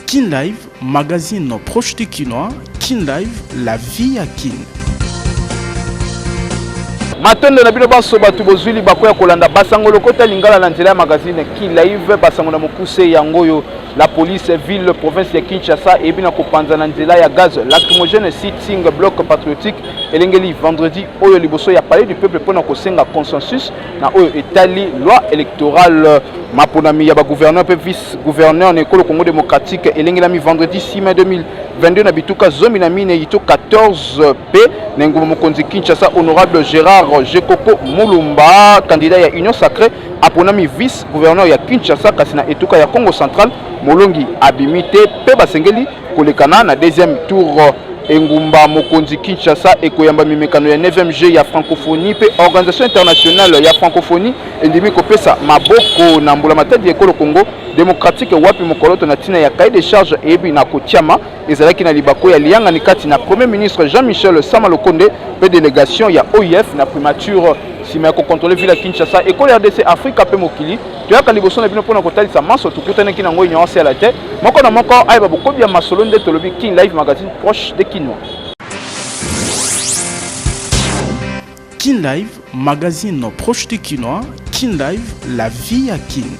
Kin Live, magazine proche du Kinois. Kin Live, la vie à Kin. matondo na bino banso bato bozwi libaku ya kolanda basango lokota lingala na nzela ya magazine kilive basango na mokuse yango oyo la police ville province ya kinshasa eyebi na kopanza na nzela ya gaz lacrymogène sitting bloc patriotique elengeli vendredi oyo liboso ya palais du peuple mpo na kosenga consensus na oyo etali loi électorale maponami ya bagouverneur mpe vice gouverneur na ekolo congo démocratique elengelami vendredi 6 mai 2022 na bituka zomi na minei to 14 mpe na engumba mokonzi kinshasa honorable gérard jekoko mulumba candidat ya union sacré aponami vice gouverneur ya kinshasa kasi na etuka ya congo central molongi abimi te mpe basengeli Kolekana na deuxième tour engumba mokonzi Kinshasa ekoyamba mimekano ya 9e jeu ya francophonie mpe organisation internationale ya francophonie endimi kopesa maboko na mbulamatadi ya ekolo Congo demokratike wapi mokoloto na ntina ya cahier de charge eyebi na kotyama ezalaki na libako ya liyangani kati na premier ministre Jean-Michel Sama Lokonde mpe delegation ya OIF na primature nsima ya kokontrole ville ya Kinshasa ekolo RDC Afrika mpe mokili toyaka liboso na bino mpo na kotalisa manso tokutanaki nango union ya la te moko na moko ayeba bokobi ya masolo nde tolobi king live magazine proche de kinois king live magazine proche de kinois king live la vie ya king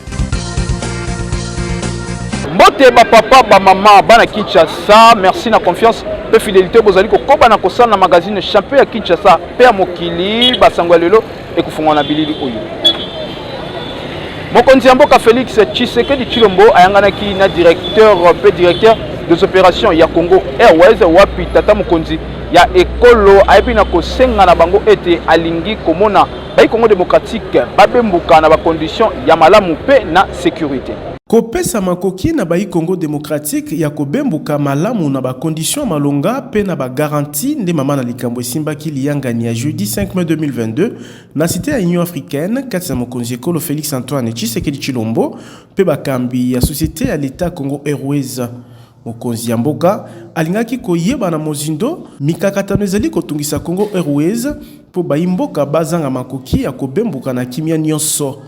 mbote bapapa bamama bana kinshasa merci na confiance mpe fidelité bozali kokoba na kosala na magazine champion ya kinshasa mpe ya mokili basango ya lelo ekofungwa na bilili oyo mokonzi ya mboka Felix Tshisekedi Chilombo ayanganaki na directeur mpe directeur des opérations ya Congo Airways wapi tata mokonzi ya ekolo ayebi na kosenga na bango ete alingi komona bai Congo démocratique babembuka na bakondition ya malamu mpe na sécurité. Kopesa makoki na bayi Congo democratique ya kobembuka malamu na ba conditions ya malonga mpe na ba garanties nde mama na likambo esimbaki liyangani ya jeudi 5 mai 2022 na cite ya Union africaine kati na mokonzi ekolo Felix Antoine Tshisekedi Tshilombo mpe bakambi ya societe ya l'Etat Congo Airways. Mokonzi ya mboka alingaki koyeba na mozindo mikakatano ezali kotungisa Congo Airways mpo bayi mboka bazanga makoki ya kobembuka na kimia nionso.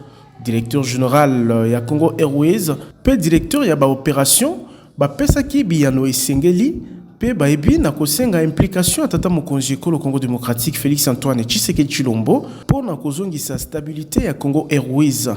Directeur general ya Congo Airways mpe directeur ya ba operations bapesaki biyano esengeli mpe bayebi na kosenga implication ya tata mokonzi ekolo Congo democratique Felix Antoine Tshisekedi Tshilombo mpo na kozongisa stabilite ya Congo Airways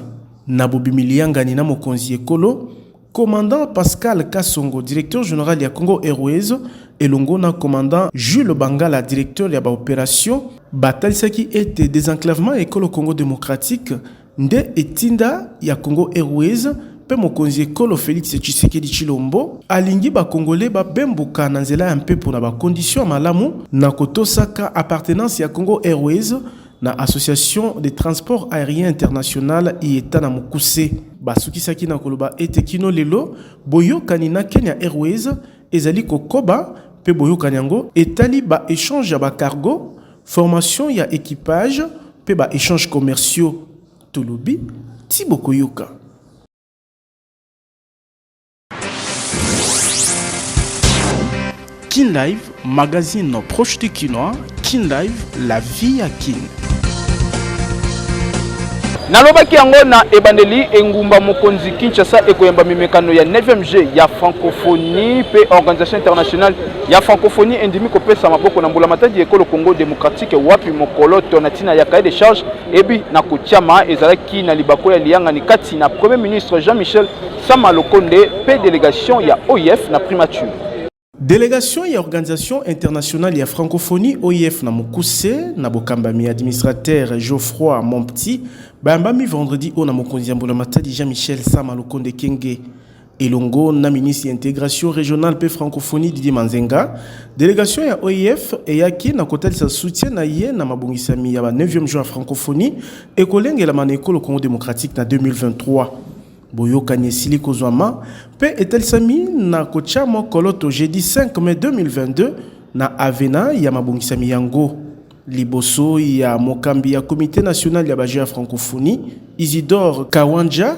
na bobimi liyangani na mokonzi ekolo Commandant Pascal Kasongo, directeur general ya Congo Airways, elongo na commandant Jules Bangala, directeur ya ba operations, batalisaki ete desenclavement ya ekolo Congo democratique nde etinda ya Congo Airways mpe mokonzi ekolo Felix Tshisekedi Tshilombo alingi ba Congolais babembuka na nzela ya mpepo na ba conditions ya malamu na kotosaka appartenance ya Congo Airways na Association des transports aeriens internationale, IETA na mokuse. Basukisaki na koloba ete kino lelo, boyokani na Kenya Airways ezali kokoba mpe boyokani yango etali ba echanges ya ba cargos, formation ya equipage mpe ba echanges commerciaux. Tolobi tii bokoyoka. Kin Live, magazine proche du Kinois, Kin Live, la vie à Kin. nalobaki yango na ebandeli engumba mokonzi kinshasa ekoyamba mimekano ya 9e jeu ya francophonie mpe organisation internationale ya francophonie endimi kopesa maboko na mbulamatadi ya ekolo congo démocratique wapi mokoloto na ntina ya cahier de charge ebi na kotyama ezalaki na libako ya liyangani kati na premier ministre jean michel Sama Lokonde pe delegation ya OIF na primature. Delegation ya Organisation internationale ya francophonie OIF na mokuse na bokambami ya administrateur Geoffroy Mompti bayambami vendredi oyo na mokonzi ya mbula matadi Jean-Michel Sama Lukonde Kenge elongo na ministre ya integration régionale mpe francophonie Didier Manzenga. Delegation ya OIF eyaki na kotalisa soutien na ye na mabongisami ya ba 9e jour ya francophonie ekolengelama na ekolo Congo démocratique na 2023. Boyokani esili kozwama mpe etalisami na kotya mwa koloto jeudi 5 mai 2022 na Avena ya mabongisami yango, liboso ya mokambi ya Comite national ya ba Jeux ya Francophonie, Isidore Kawandja.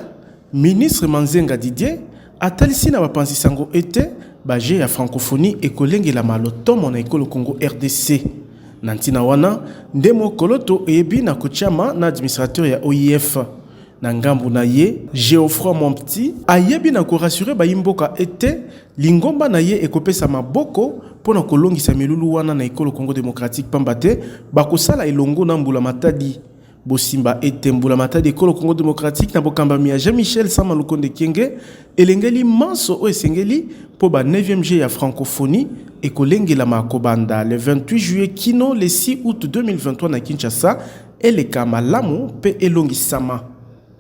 Ministre Manzenga Didier atalisi na bapanzi sango ete ba Jeux ya Francophonie ekolengelama lotomo na ekolo Congo rdc. Na ntina wana nde mwa koloto eyebi na kotyama na administrateur ya OIF, Na ngambu na ye, Geoffroy Mompti ayebi na ko rassurer bayi mboka ete lingomba na ye ekopesa maboko mpo na kolongisa milulu wana na Ekolo Congo democratique pamba te bakosala elongo na Mbula Matadi. Bosimba ete Mbula Matadi Ekolo Congo democratique na bokambami ya Jean-Michel Sama Lukonde Kyenge elengeli manso oyo esengeli mpo ba neuvième Jeux ya Francophonie ekolengelama kobanda le 28 juillet kino le 6 aout 2023 na Kinshasa, Eleka malamu pe elongisama.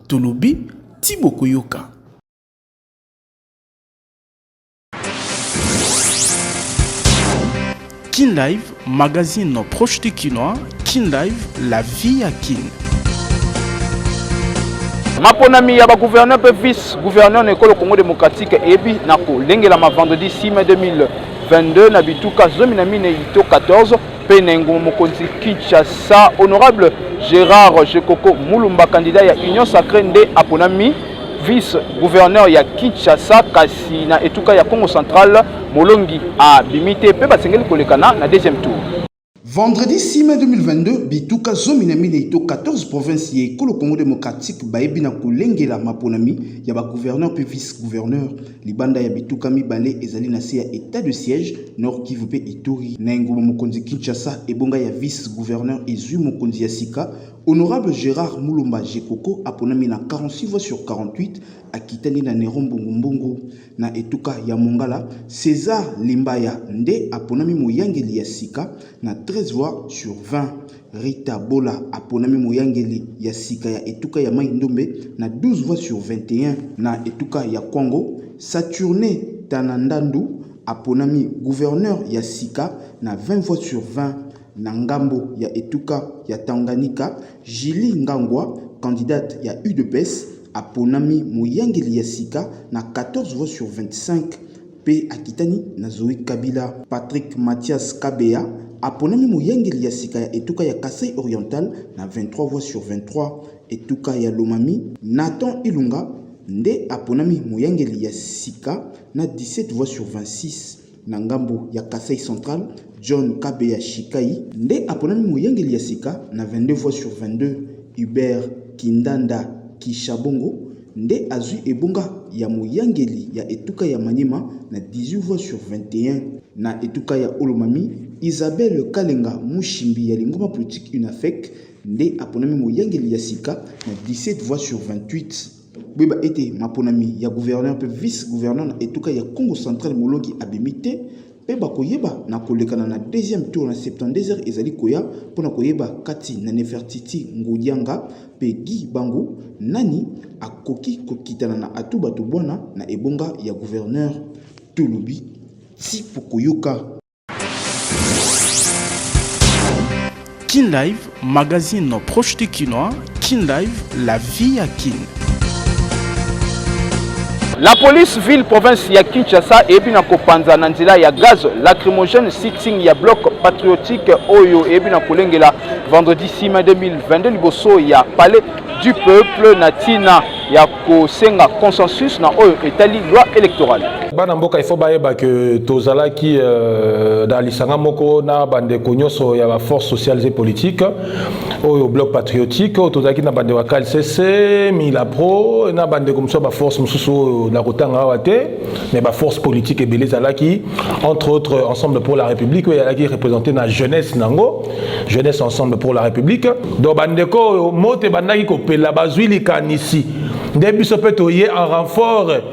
Tolobi, Ti bokoyoka. Kin Live, magazine proche du Kinois, Kin Live, la vie à Kin. maponami ya bagouverneur mpe vice gouverneur na ekolo congo démocratique eyebi na kolengelama vendredi 6 mai 2022 na bituka zomi na minei to 14 Penengo Mokonzi Kinshasa, honorable Gérard Jekoko Mulumba, candidat ya Union Sacrée nde aponami vice-gouverneur ya Kinshasa kasi na etuka ya Congo central molongi abimi te mpe basengeli kolekana na deuxième tour. Vendredi 6 mai 2022, bituka zomi na minei to 14 province ya ekolo Congo démocratique bayebi na kolengela maponami ya ba gouverneur mpe vice-gouverneur Libanda ya bituka mibale ezali na se ya etat de siège, Nord Kivu mpe Ituri. Na engumba mokonzi Kinshasa, ebonga ya vice-gouverneur ezwi mokonzi ya sika. Honorable Gerard Mulumba Jekoko aponami na 46 voix sur 48, akitani na Nero Mbungu Mbungu. Na etuka ya Mongala, Cesar Limbaya nde aponami moyangeli ya sika na 13 voix sur 20. Rita Bola aponami moyangeli ya sika ya etuka ya Mai-Ndombe na 12 voix sur 21. Na etuka ya Kwango, Saturne Tana Ndandu aponami gouverneur ya sika na 20 voix sur 20. Na ngambo ya etuka ya Tanganyika, Julie Ngangwa, candidate ya udps, aponami moyangeli ya sika na 14 voix sur 25. mpe akitani na Zoe Kabila. Patrick Mathias Kabeya aponami moyangeli ya sika ya etuka ya Kasaï Oriental na 23 voix sur 23. Etuka ya Lomami, Nathan Ilunga nde aponami moyangeli ya sika na 17 voix sur 26. Na ngambo ya Kasaï Central, John Kabeya Shikai nde aponami moyangeli ya sika na 22 voix sur 22. Hubert Kindanda Kishabongo nde azwi ebonga ya moyangeli ya etuka ya Maniema na 18 voix sur 21. Na etuka ya Olomami, Isabelle Kalenga Mushimbi ya lingoma politique UNAFEC nde aponami moyangeli ya sika na 17 voix sur 28. Boyeba ete maponami ya gouverneur mpe vice-gouverneur na etuka ya Kongo central Molongi abimi te, mpe bakoyeba na kolekana na deuxième tour na 72 heures ezali koya mpo na koyeba kati na Nefertiti Ngudianga mpe Guy Bangu nani akoki kokitana na Atou Bato Bwana na ebonga ya gouverneur Tulubi ti pokoyoka Kin Live, magazine proche du Kinois. Kin Live, la vie à Kin. La police ville province ya Kinshasa eyebi na kopanza na nzela ya gaz lacrymogène sitting ya bloc patriotique oyo eyebi na kolengela vendredi 6 mai 2022 liboso ya palais du peuple na tina ya kosenga consensus na oyo etali loi électorale bana mboka ifo bayeba ke tozalaki euh, na lisanga moko na bandeko nyonso ya baforce sociales et politique oyo bloc patriotique oyo tozalaki na bandeko ya kalcc milapro na bandeko mosusu ya baforce mosusu oyo na kotanga awa te mais baforce politique ebele ezalaki entre autres ensemble pour la république oyo ezalaki représente na jeunesse na yango jeunesse ensemble pour la république donc bandeko oyo moto ebandaki kopela bazwi likanisi nde biso mpe toye en renfort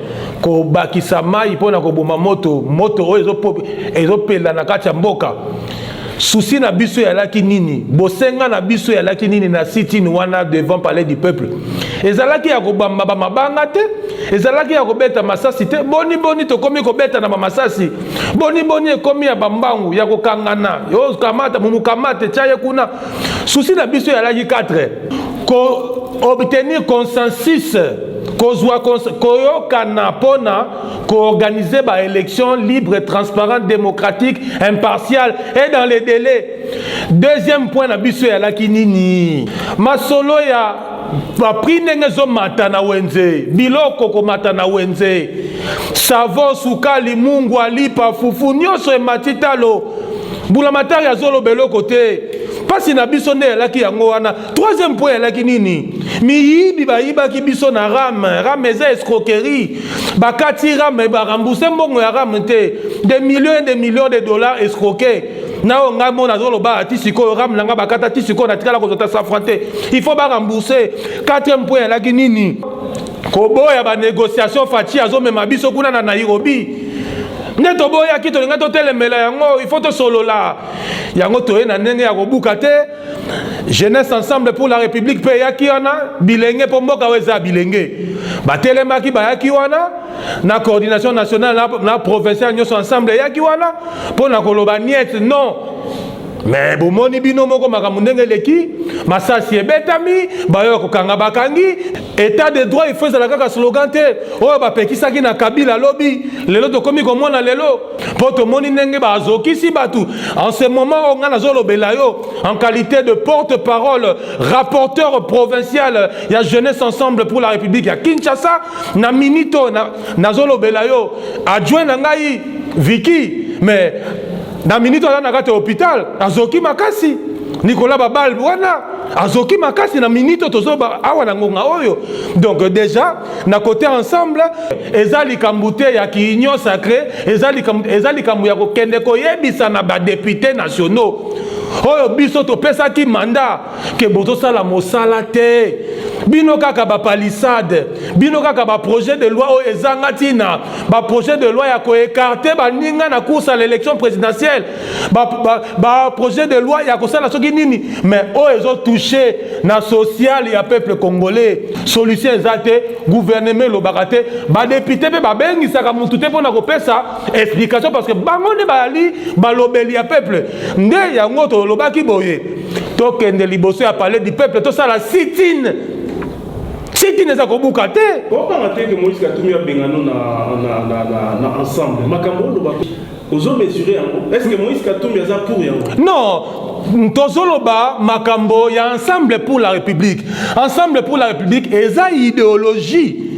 kobakisa mai mpo na koboma moto moto oyo ezopela na kati ya mboka susi na biso eyalaki nini bosenga na biso eyalaki nini na sitine wana devant palais du peuple ezalaki ya kobamba bamabanga te ezalaki ya kobeta masasi te boni boni tokomi kobeta na bamasasi boni boni ekomi ya bambangu ya kokangana yo kamata momukamate tya ye kuna susi na biso yalaki 4 ko obtenir consensus kozwa koyokana mpo na koorganize baélection libre transparente démocratique impartiale et dans les délais deuxième point na biso eyalaki nini masolo ya bapri ndenge ezomata na wenze biloko komata na wenze savo sukali mungwa lipa fufu nyonso emati talo mbulamatari azoloba eloko te mpasi na biso nde eyalaki yango wana troisième po eyalaki nini miyibi bayibaki biso na rame rame eza escroquerie bakati rame barambuse mbongo ya rame te de millions de millions de dollars escroquer na oyo ngai mona azoloba ti sikoyo ram na ngai bakata ti sikoyo natikala kozwa ta safran te il faut barembourse quatrième point alaki nini koboya banégociation faci azomema biso kuna na nairobi nde toboyaki tolingai totelemela yango il faut tosolola yango toye na ndenge ya kobuka te jeunesse ensemble pour la république mpe eyaki wana bilenge mpo mboka oyo eza ya bilenge batelemaki bayaki wana na coordination nationale na, na provinciale nyonso ensemble eyaki wana mpo na koloba niet non me bomoni bino moko makambo ndenge eleki masasi ebetami bayo ya kokanga bakangi Etat de droit il faut ezala kaka slogan te oyo bapekisaki na Kabila lobi lelo tokomi komona lelo mpo tomoni ndenge bazokisi bato en ce moment oyo ngai nazolobela yo en qualité de porte-parole rapporteur provincial ya jeunesse ensemble pour la république ya Kinshasa na minute oyo nazolobela yo adjoint na ngai Vicky mais na minute aza na kati ya hopital azoki makasi nikola babal wana azoki makasi na minute tozoba awa na ngonga oyo donc déjà na côté ensemble eza likambo te ya kiunion sacré eza likambo ya kokende koyebisa na badepute nationaux oyo biso topesaki mandat ke bozosala mosala te bino kaka bapalisade bino kaka baprojet de loi oyo ezanga ntina baprojet de loi ya koekarte baninga na course ya l'élection présidentielle baprojet ba, ba de loi ya kosala soki nini mais oyo ezotouche na sociale ya peuple congolais solution eza te gouvernement elobaka te badepute mpe babengisaka motu te mpo na kopesa explication parce que bango nde bazali balobeli ya peuple nde yango tolobaki boye tokende liboso ya palais du peuple tosala sitine sitine eza kobuka te okanga te ke moïse katumbi abengano na, na, na, na, na ensemble makambo oloba ozomesure yango est ce que moïse katumbi aza pour yango non tozoloba makambo ya ensemble pour la république ensemble pour la république eza idéologie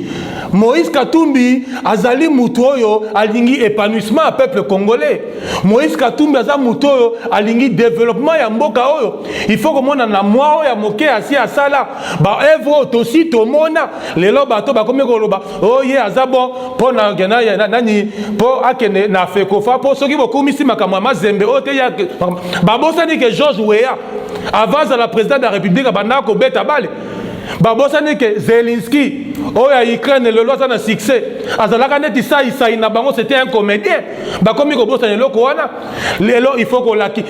moïse katumbi azali moto oyo alingi épanouissement ya peuple congolais moïse katumbi aza moto oyo alingi développement ya mboka oyo il faut komona na mwa oyo ya moke asi asala baœuvre oyo tosi tomona lelo bato bakomi koloba oye oh, yeah, aza bon mpo na nani mpo akende na fekofa mpo soki bokumisi makambo ya mazembe oyo oh, te ya babosani ke george weya avant azala président de la république abandaka kobeta bale babosani ke zelinski oyo ya ukraine lelo aza na succès azalaka neti saisai na bango c'était un comédien bakomi kobosana eloko wana lelo il faut kolaki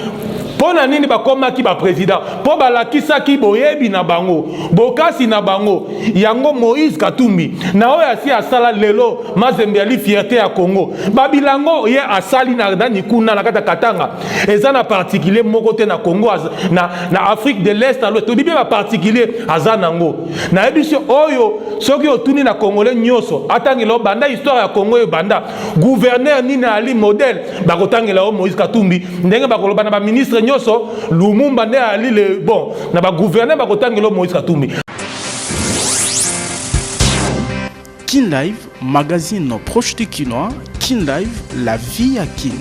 mpo na nini bakomaki bapresident mpo balakisaki boyebi na bango bokasi na bango yango moïse katumbi na oyo asi asala lelo mazembe yali fierte ya congo babilango ye asali na nani kuna na kati ya katanga eza na particulier moko te na congo na, na afrique de l'est alo tobi mpe baparticulier aza nango nayebi biso oyo soki otuni na congolais nyonso atangela obanda histoire ya congo ebanda gouverneur nini ali modèle bakotangela yo moïse katumbi ndenge bakoloba na baministre nyonso lumumba nde ali le bon na bagouverneur bakotangela yo moïse katumbi Kin Live, magazine proche du Kinois, Kin Live, la vie à Kin.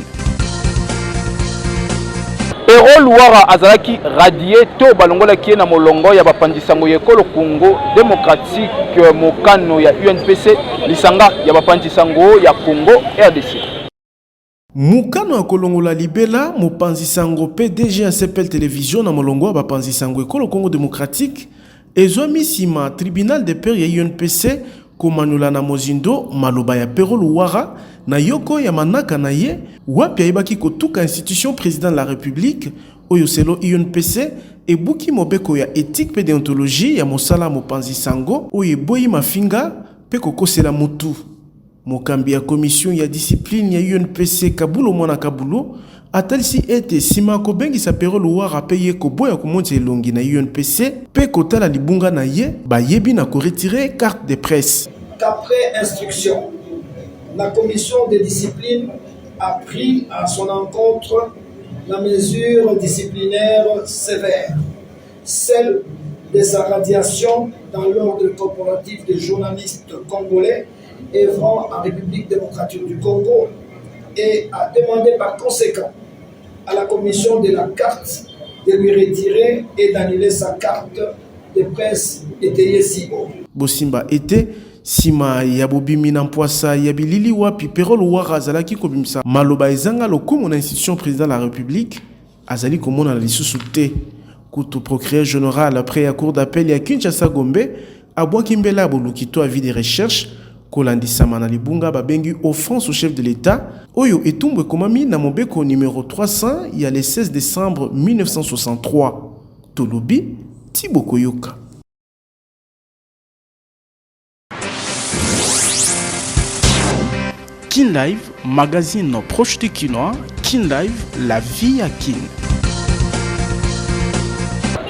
Pero Luwara azalaki radie to balongolaki ye na molongo ya bapanzi sango ya ekolo Congo Democratique, mokano ya UNPC, lisanga ya bapanzi sango ya Congo RDC. Mokano ya kolongola libela mopanzi sango pe DG ya CPL Television na molongo ya bapanzi sango ekolo Congo Democratique, Ezwami nsima Tribunal de Paix ya UNPC komanyola na mozindo maloba ya Pero Luwara na yoko ya manaka na ye wapi ayebaki kotuka institution President de la Republique oyo selon UNPC ebuki mobeko ya ethique mpe deontologie ya mosala ya mopanzi sango oyo eboyi mafinga mpe kokosela mutu. Mokambi ya commission ya discipline ya UNPC, Kabulo Mwana Kabulo, atalisi ete nsima ya kobengisa Pero Luwara mpe ye koboya komonisa elongi na UNPC mpe kotala libunga na ye, bayebi na ko retirer carte de presse. Qu'après instruction, la commission de discipline a pris à son encontre la mesure disciplinaire sévère, celle de sa radiation dans l'ordre corporatif des journalistes congolais, œuvrant en République démocratique du Congo et a demandé par conséquent à la commission de la carte de lui retirer et d'annuler sa carte de presse étayée si haut. Bosimba était sima ya bobimi na mpwasa ya bilili wapi Perol Wara azalaki kobimisa maloba ezanga lokumu na institution président de la République Azali komonana lisusu te. Kutu, procureur general près ya cour d'appel ya Kinshasa Gombe abwaki mbela ya boluki to avis de recherche kolandisama na libunga babengi offense au chef de l'Etat oyo etumbu ekomami na mobeko numero 300 ya le 16 decembre 1963. Tolobi ti bokoyoka. Kin Live, magazine proche du Kinois. Kin Live, la vie à Kin.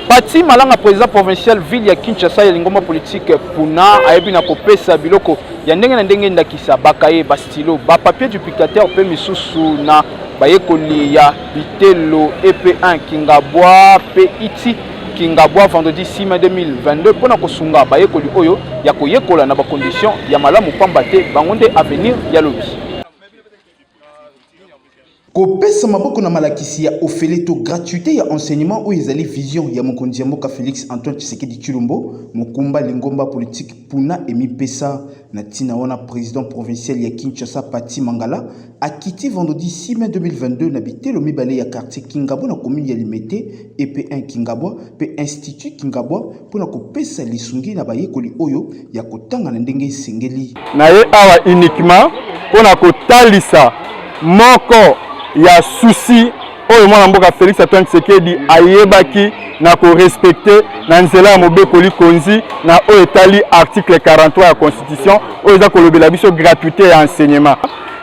Pati Malanga, président provincial ville ya Kinshasa ya lingomba politique Puna, ayebi na kopesa biloko ya ndenge na ndenge ndakisa bakaye, ba stylo, ba papier du pictateur mpe misusu na bayekoli ya bitelo EP1 Kingabwa mpe iti Kingabwa vendredi 6 mai 2022 mpo na kosunga bayekoli oyo ya koyekola na bakondition ya malamu mpamba te bango nde avenir ya lobi. Kopesa maboko na malakisi ya ofele to gratuite ya enseignement oyo ezali vision ya mokonzi ya mboka Felix Antoine Tshisekedi Tshilombo, mokumba lingomba politique Puna emipesa. Na ntina wana, president provincial ya Kinshasa Patty Mangala Akiti vendredi 6 mai 2022 na bitelo mibale ya quartier Kingabwa na commune ya Limete, EP1 Kingabwa mpe Institut Kingabwa mpo na kopesa lisungi na bayekoli oyo ya kotanga na ndenge esengeli. Na ye awa uniquement mpo na kotalisa moko ya souci oyo mwana mboka Felix Antoine Tshisekedi ayebaki na korespecte na nzela ya mobeko likonzi na oyo etali article 43 ya constitution oyo eza kolobela biso gratuité ya enseignement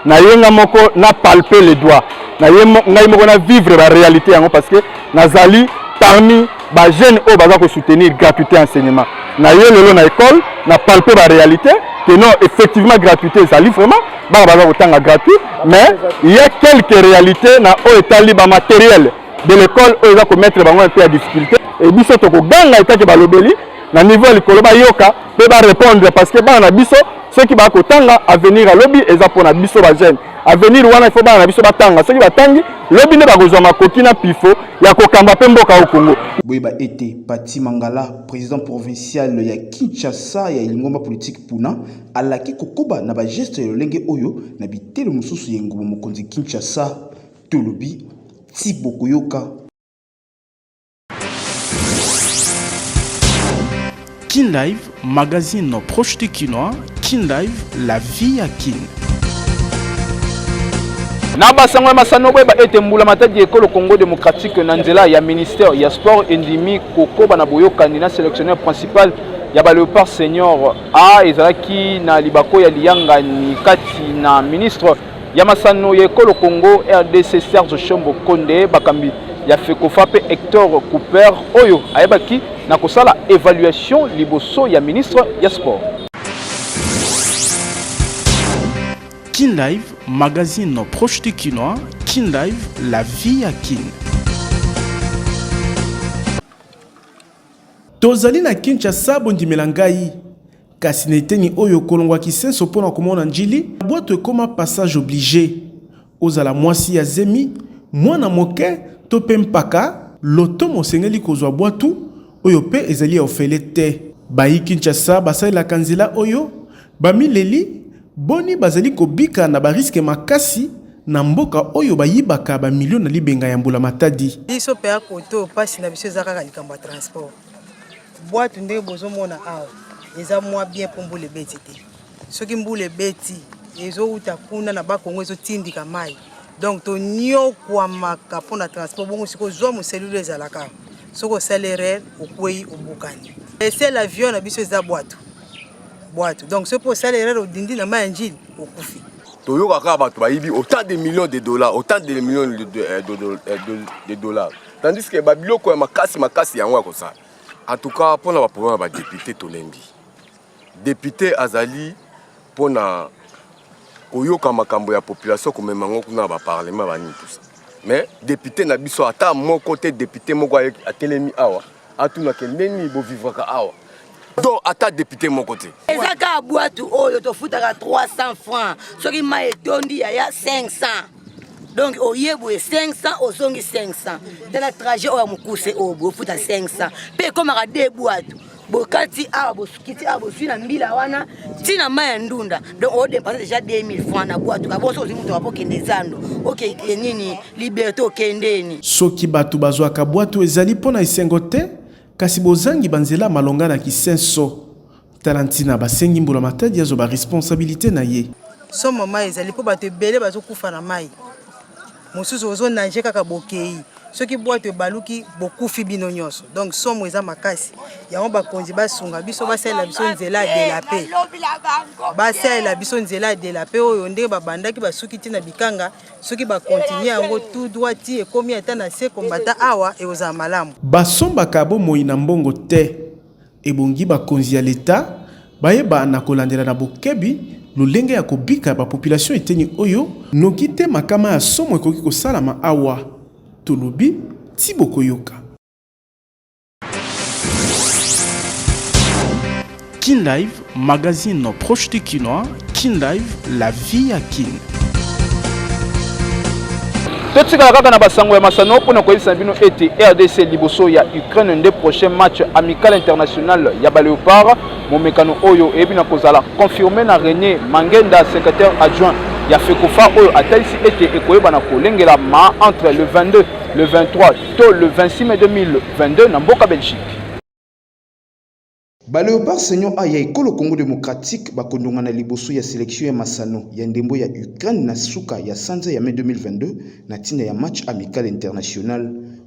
na ye nga moko na palpe le doigt na ye ngai moko na vivre ba réalité yango parce que nazali parmi ba jeunes oyo baza ko soutenir gratuité enseignement na ye lelo na école na palpe ba réalité que non effectivement gratuité ezali vraiment bana baza kotanga gratuit mais il y a quelques réalités na oyo etali ba matériel de l'école oyo eza komettre bango mpe ya difficulté e biso tokoganga etake balobeli na niveau ya likolo bayoka mpe barépondre parce que bana na biso soki baya kotanga avenir ya lobi eza mpo na biso ba jeune avenir wana il faut bana na biso batanga soki batangi lobi nde bakozwa makoki na pifo ya kokamba mpe mboka au congo boyeba ete pati mangala président provincial ya kinshasa ya lingomba politiki puna alaki kokoba na bageste ya lolenge oyo na bitelo mosusu ya engumba mokonzi kinshasa tolobi ti bokoyoka Kin Live, magazine proche du Kinois, Kin Live, la vie à Kin. na basango ya masano boyeba ete mbula matadi ya ekolo congo démocratique na nzela ya ministère ya sport endimi kokoba na boyokani na sélectionneur principal ya ba léopard senior a ezalaki na libako ya liyangani kati na ministre ya masano ya ekolo Congo RDC Serge Shombo Konde bakambi ya FECOFA mpe Hector Cooper oyo ayebaki na kosala evaluation liboso ya ministre ya sport. Kin Live, magazine proche du Kinois, Kin Live, la vie à Kin. Tozali na Kinshasa, bondimela ngai. Kasi na eteni oyo kolongwa Kisenso mpo na komona N'Djili, bwato ekoma passage oblige. Ozala mwasi ya zemi, mwana moke to mpe mpaka, lotomo osengeli kozwa bwatu, oyo mpe ezali ya ofele te. Bayi Kinshasa basalelaka nzela oyo, bamileli, Boni bazali kobika na ba risque makasi na mboka oyo bayibaka ba millions na libenga ya mbula matadi. Biso pe a kote oyo pasi na biso eza kaka likambo ya transport. Bwatu ndenge bozomona awa eza mwa bien po mbula ebeti te. Soki mbula ebeti ezowuta kuna na ba Congo ezotindika mayi. Donc toniokwamaka po na transport bongo sikoyo zwa moselulu ezalaka soki osali erreur okwei obukani. Ese l'avion na biso eza bwatu. bwatu donc soki mpo osala erreur odindi na mai ya njili okufi toyoka kaka bato bayibi autant de millions de dollars autant de millions de, de, euh, de, de, euh, de, de dollars tandis que babiloko ya makasi makasi yango ya kosala en tout cas mpo na baproblème ya badepute tolembi depute azali mpo na koyoka makambo ya population komema yango kuna na baparlement banini tusa mais depute na biso ata moko te depute moko atelemi awa Atuna ke ndenge nini bo vivraka awa. do ata depute moko te eza kaka bwatu oyo tofutaka 300 francs soki mai etondi yaya 500 donc oye boye 500 ozongi 500 tala trajet oyo ya mokuse oyo bofuta 500 mpe ekomaka de bwatu bokati awa kiti ya bozwi na mbila wana ti na mai ya ndunda donc odepense déjà 2000 franc na bwatu kaboso ozwi moto wapo okende zando okeke nini liberté okendeni soki bato bazwaka bwatu ezali mpo na esengo te kasi bozangi banzela malonga na kisenso tala ntina basengi mbula matadi azoba responsabilité na ye somo mai ezali mpo bato ebele bazokufa na mai mosusu ozo nage kaka bokei soki bwato ebaluki bokufi bino nyonso donc somo eza makasi yango bakonzi basunga biso basalela biso nzela ya delape basalela biso nzela ya delape oyo ndenge babandaki basuki ti na bikanga soki bakontinue yango tout droit ti ekomi ata na se kombata awa ekozala malamu basombaka bomoi na mbongo te Ebongi bakonzi ya Leta bayeba na kolandela na bokebi lolenge ya kobika ya bapopilasio eteni oyo, noki te makama ya somo ekoki kosalama awa tolobi ti bokoyoka. Kin Live Magazine proche du Kinois, Kin Live, la vie à Kin. totikala kaka na basango ya masano mpo na koyebisa na bino ete rdc liboso ya ukraine nde prochain match amical international ya baleopard momekano oyo eyebi na kozala confirme na rené mangenda secrétaire adjoint ya fekofa oyo atalisi ete ekoyebana kolengela ma entre le 22 le 23 to le 26 mai 2022 na mboka belgique Ba Leopards Senior A ya ekolo Congo Democratique bakondongana liboso ya selection ya masano ya ndembo ya Ukraine na suka ya sanza ya mai 2022 na ntina ya match amical international.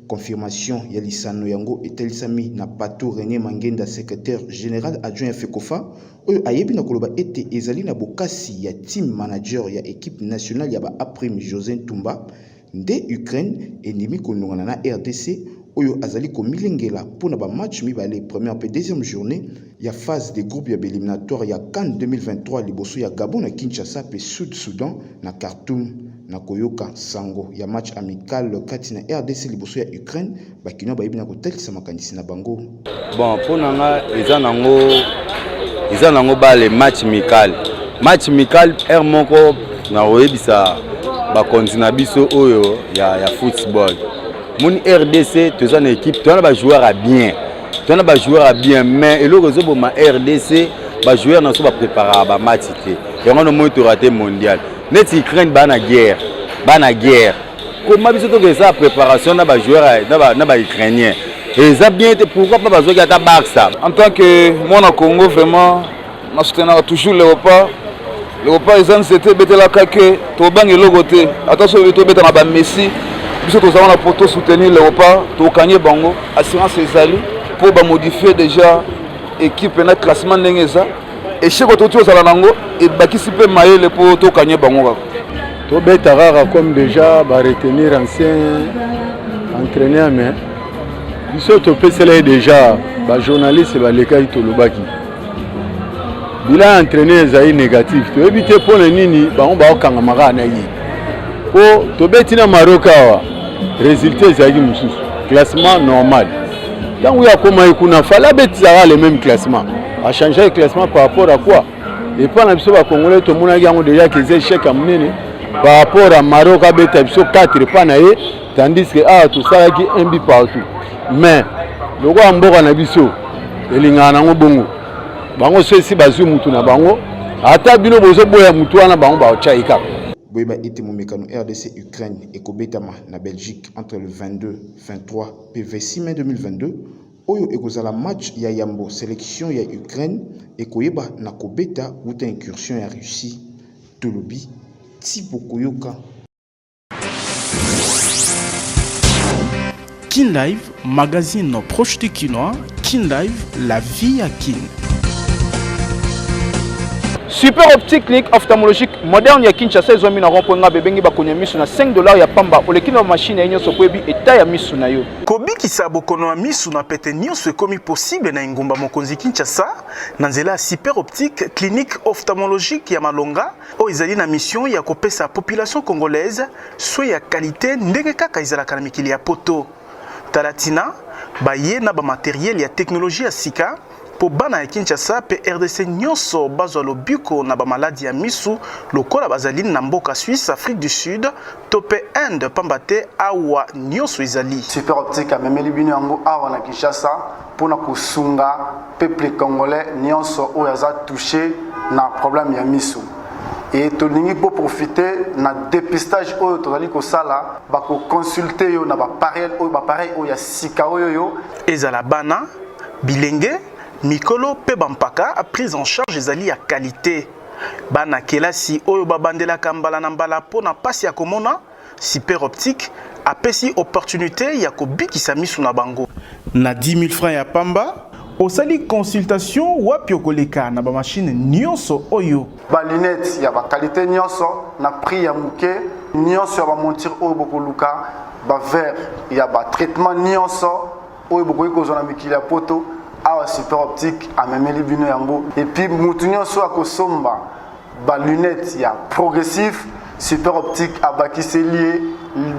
Confirmation ya lisano yango etalisami na Patou Rene Mangenda, secretaire general adjoint ya FECOFA, oyo ayebi na koloba ete ezali na bokasi ya team manager ya equipe nationale ya ba A-Prime Jose Ntumba Nde Ukraine endimi konongana na rdc oyo azali komilengela mpo na ba match mibale première mpe deuxième journee ya phase de groupe ya ba eliminatoires ya CAN 2023 liboso ya Gabon na Kinshasa mpe Sud Soudan na Khartoum na koyoka nsango ya match amical kati na rdc liboso ya Ukraine bakinois bayebi na kotalisa makanisi na bango bon mpo na nga eza nango eza nango bale match mikale match mikale heure moko na koyebisa bakonzi na biso oyo ya, ya football moni rdc toza na équipe toza na bajoueur ya bien toza na bajoueur ya bien mais eloko ezoboma rdc bajoueur na biso bapreparaka bamatch te yango nomoni torate mondial neti ukraine baa na guerre baa na guerre koma biso toka eza préparation na bajoueur na baukrainien eza bien te pourquoi pas bazwaki ata barça en tant que mwana congo vraiment na soutenaka toujours leopard leopard eza nzete ebetelaka ke tobanga eloko te ata soki tobeta na bamessi biso toza wana mpo tosoutenir leopard tokanye bango assurance ezali mpo bamodifie déjà ekipe na classement ndenge eza esheko tokuti ozala na yango ebakisi mpe mayele mpo tokanye bango kaka tobeta kaka comme déjà baretenir ancien entraîneur mais biso topesela ye déjà bajournaliste balekaki tolobaki bilan ya entraîneur ezali négatif toyebi te mpo na nini bango bakokangama kaka na ye mpo tobeti na maroc awa résultat ezalaki mosusu classement normal ntango ye akomaki kuna fale abetisaka le même classement A changer classement par rapport à quoi? Epa na biso ba congolais tomonaki yango deja kiza echec ya monene par rapport à Maroc abeta biso 4 epa na ye tandis que awa tosalaki un but partout mais lokola mboka na biso elingaka nango bongo bango so esi bazwi mutu na bango ata bino bozoboya mutu wana bango baotya ye kaka boyeba ete momekano rdc ukraine ekobetama na belgique entre le 22 23 mpe 26 mai 2022 Oyo ekozala match ya yambo selection ya Ukraine ekoyeba na kobeta wuta incursion ya Russie, tolobi ti bokoyoka. Kin Live, magazine proche du Kinois, Kin Live, la vie à Kin. Super Optique Clinique Ophtalmologique Moderne ya Kinshasa ezwami na rond-point Ngabe ebengi bakonya misu na 5 dollars ya pamba oleki na machine ya nyonso po ebi eta ya misu na yo. Kobikisa bokono ya misu na pete nionso ekomi possible na engumba mokonzi Kinshasa na nzela ya Super Optique, clinique ophtalmologique ya malonga oyo ezali na mission ya kopesa population congolaise soins ya qualite ndenge kaka ezalaka na mikili ya poto. Talatina, baye na ba materiel ya technologie ya sika. mpo bana ya Kinshasa mpe RDC nyonso bazwa lobiko na bamaladi ya miso lokola bazali na mboka Suisse, Afrique du Sud to mpe Inde mpamba te awa nyonso ezali. Super Optique amemeli bino yango awa na Kinshasa mpo na kosunga peuple congolais nyonso oyo aza touche na problème ya miso e tolingi boprofite na depistage oyo tozali kosala bakoconsulte yo na bapareil oyo ya sika oyo yo ezala bana Bilenge, mikolo mpe bampaka, prise en charge ezali ya qualite. Bana kelasi oyo babandelaka mbala na mbala mpo na mpasi ya komona, Super Optique apesi opportunite ya kobikisa miso na bango. Na 10 000 francs ya pamba, osali consultation wapi okoleka na ba machine nionso oyo. Ba lunettes ya ba qualite nionso na prix ya muke, nionso ya ba monture oyo bokoluka, ba verre ya ba traitement nionso oyo bokoki kozwa na mikili ya poto awa super optique amemeli bino yango epuis motu nyonso akosomba balunete ya progressif super optique abakiseli ye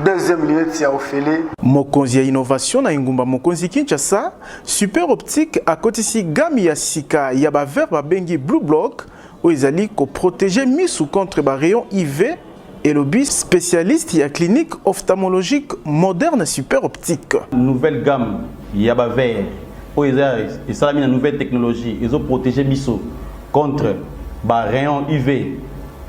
deuxième lunette ya ofele mokonzi ya innovation na engumba mokonzi kinshasa super optique akotisi game ya sika ya bavere babengi blue block oyo ezali koprotege misu contre barayon iv elobi specialiste ya clinique ophtalmologique moderne super optique nouvelle gamme ya ba verre oyo eza esalami na nouvelle technologie ezo protéger biso contre ba rayon uv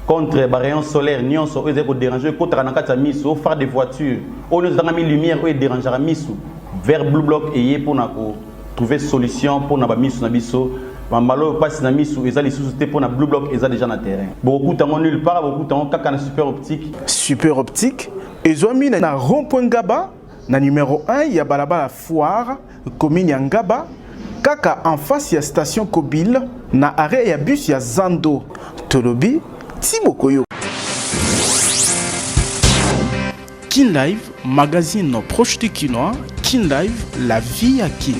contre ba rayon solaire nyonso oyo ezali koderange oyo ekotaka na kati ya misu o phare de voiture oyo nyonso ezangami lumière oyo ederangeaka misu verre blue block eye mpona ko trouver solution pona ba misu na biso mambala oyo pasi na misu eza lisusu te pona blue block eza deja na terrain bokokuta ngo nulle part bokokuta ngo kaka na super optique super optique ezwami na rond point ngaba na numero 1 ya balabala foire commune ya ngaba kaka en face ya station kobile na arret ya bus ya zando tolobi ti bokoyoka Kin Live, magazine proche du Kinois. Kin Live, la vie à Kin.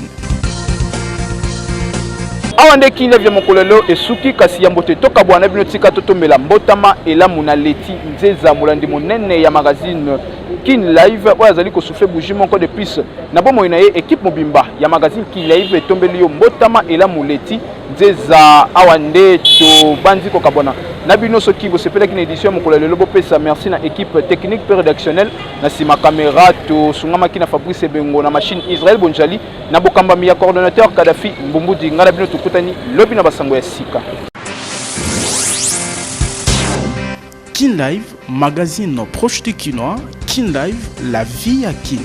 awa nde kin live ya mokolo lelo esuki kasi yambo te tokabwana bino tika totombela mbotama elamu na leti nzeza molandi monene ya magazine kin live oyo azali kosufle bougie moko de plus na bomoi na ye ekipe mobimba ya magazine kin live etombeli yo mbotama elamu leti Nzeza awa nde tobanzi kokabwana na bino soki bosepelaki na édition ya mokolo ya lelo bopesa merci na équipe technique mpe rédactionnel na nsima caméra tosungamaki na fabrice ebengo na machine israel bonjali na bokambami ya coordonnateur kadafi mbumbudi ngai na bino tokutani lobi na basango ya sika Kin Live, magazine proche du Kinois, Kin Live, la vie à Kin.